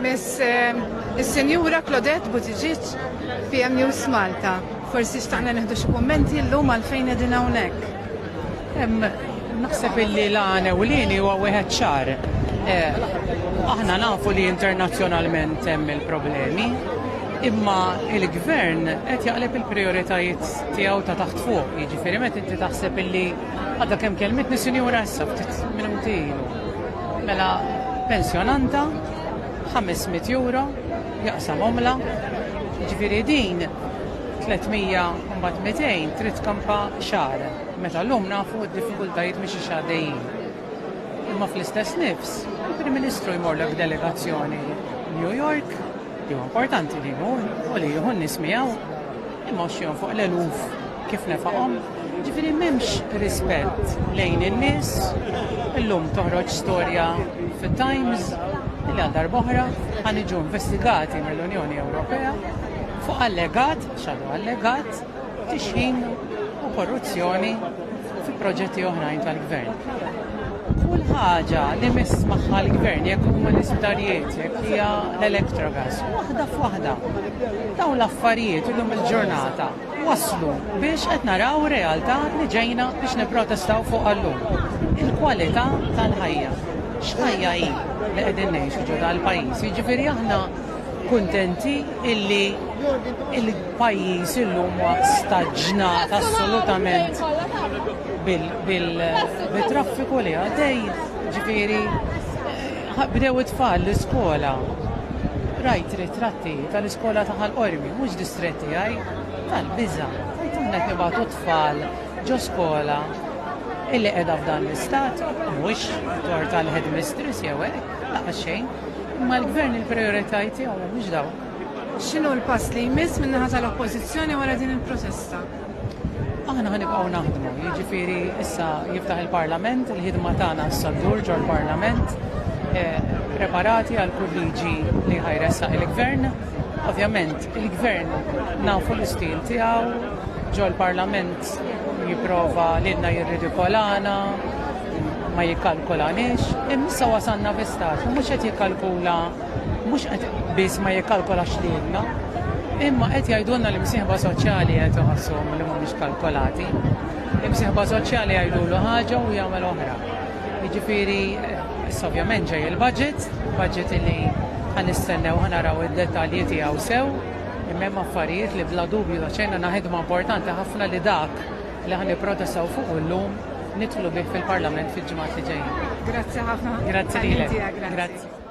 Miss eh, is-Senjura Claudette Buttigieg, PM News Malta. Forsi xtaqna neħdu xi kummenti llum għalfejn qegħdin hawnhekk. Naħseb illi l-għana u l-għini huwa wieħed ċar. Eh, aħna nafu li internazzjonalment hemm il-problemi, Imma il-gvern qed jaqleb il-prioritajiet tiegħu ta' taħt fuq, jiġifieri meta inti taħseb illi għadha kemm kelmitni sinjura issa ftit minuti ilu. Mela pensjonanta 500 euro jaqsam omla, jiġifieri din 300 mbagħad 200 trid kampa xahar. Meta llum nafu d-diffikultajiet mhix xaddejjin. Imma fl-istess nifs, il-Prim Ministru jmorlek delegazzjoni New York Jew importanti li jmur u li jieħu n-nies miegħu imgħoxxihom fuq l-eluf kif nefaqhom. Ġifieri m'hemmx rispett lejn in-nies. Illum toħroġ storja fit-Times li għal darb'oħra ħa niġu investigati mill-Unjoni Ewropea fuq allegat, xadu allegat, tixħim u korruzzjoni u fi proġetti oħrajn tal-Gvern. Kull ħaġa li miss magħha l-Gvern jekk huma l-isptarijiet, jekk hija l-elektrogas, waħda f'waħda. Dawn l-affarijiet illum il-ġurnata waslu biex qed naraw realtà li ġejna biex nipprotestaw fuq għallum. Il-kwalità tal-ħajja. X'ħajja hi li qegħdin ngħixu ġo dal-pajjiż. Jiġifieri aħna kuntenti illi Pajjiż illum huwa staġnat assolutament bil-traffiku li għaddej, ġifieri bdew it-tfal l-iskola. Rajt ritratti tal-iskola ta' Ħal Qormi, mhux distrett tiegħi, tal-biża', tgħid aħna qed nibagħtu t-tfal ġo skola illi qiegħda f'dan l-istat, mhux tort tal-headmistress jew hekk, laqas xejn, imma l-Gvern il-prijoritajiet tiegħu mhumiex dawk. X'inhu l-pass li jmiss min-naħa tal-Oppożizzjoni wara din il-protesta? Aħna ħanibqgħu naħdmu, jiġifieri issa jiftaħ il-Parlament, il-ħidma tagħna issa ddur ġol-Parlament, eh, preparati għal kull liġi li ħajressaq il-Gvern. Ovvjament, il-Gvern nafu l-istil tiegħu, ġol-Parlament jipprova lilna jirridikolana, ma jikkalkulanix, imma issa wasanna fi stat, mhux qed jikkalkula Mhux qed biss ma jikkalkolax lilna, imma qed jgħidulna li msieħba soċjali qed iħossuhom li mhumiex kalkolati. Imsieħba soċjali jgħidulu ħaġa u jagħmel oħra. Jiġifieri, issa ovvjament ġej il-budget, budget li ħanistennew ħanaraw id-dettalji tiegħu sew, imma hemm affarijiet li bla dubju ta' xejn għandna ħidma importanti ħafna li dak li ħa nipprotestaw fuq illum nidħlu bih fil-Parlament fil-ġimgħat li ġejjin. Grazzi ħafna. Grazzi lilek. Grazzi.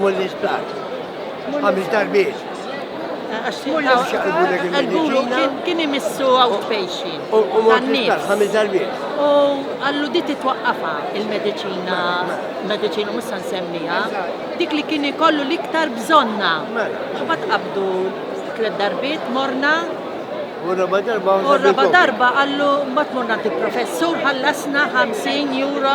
Mullis plat. Għamil darbiet. Mullis xaqbu l il-medicina. Kien imissu outpatient. U mullis plat, għamil darbiet. U għallu di titwaqqafa il-medicina, medicina musa nsemmija, dik li kien ikollu liktar bżonna. Mela. U bat qabdu tlet darbiet, morna U raba darba U raba darba għallu mbagħad morna professur ħallasna 50 euro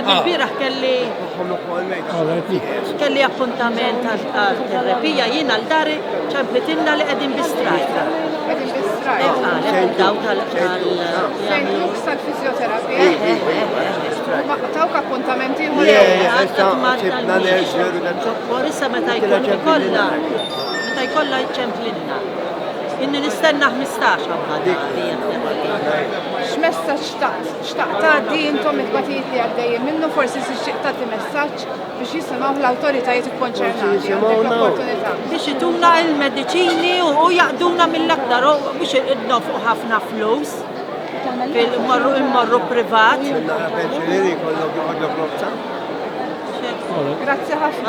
Il-bieraħ kelli kelli appuntament għal terapija jien għal dari ċemplitinna li qegħdin bi strajka. Daw tal fizjoterapija Tawk appuntamenti ieħor Issa meta jkun ikollha meta jkollha ċemplinna. Inni nistenna 15 għabba. X'messaġġ taqt Xtaqt tgħaddi intom it-tbatijiet li għaddejjin minnu forsi tixtieq tagħti messaġġ biex jisimgħuh l-awtoritajiet ikkonċernati għandek l-opportunità. Biex ituna il-mediċini u jaqduna mill-aktar biex nofqu ħafna flus fil-morru il-morru privat. Grazzi ħafna.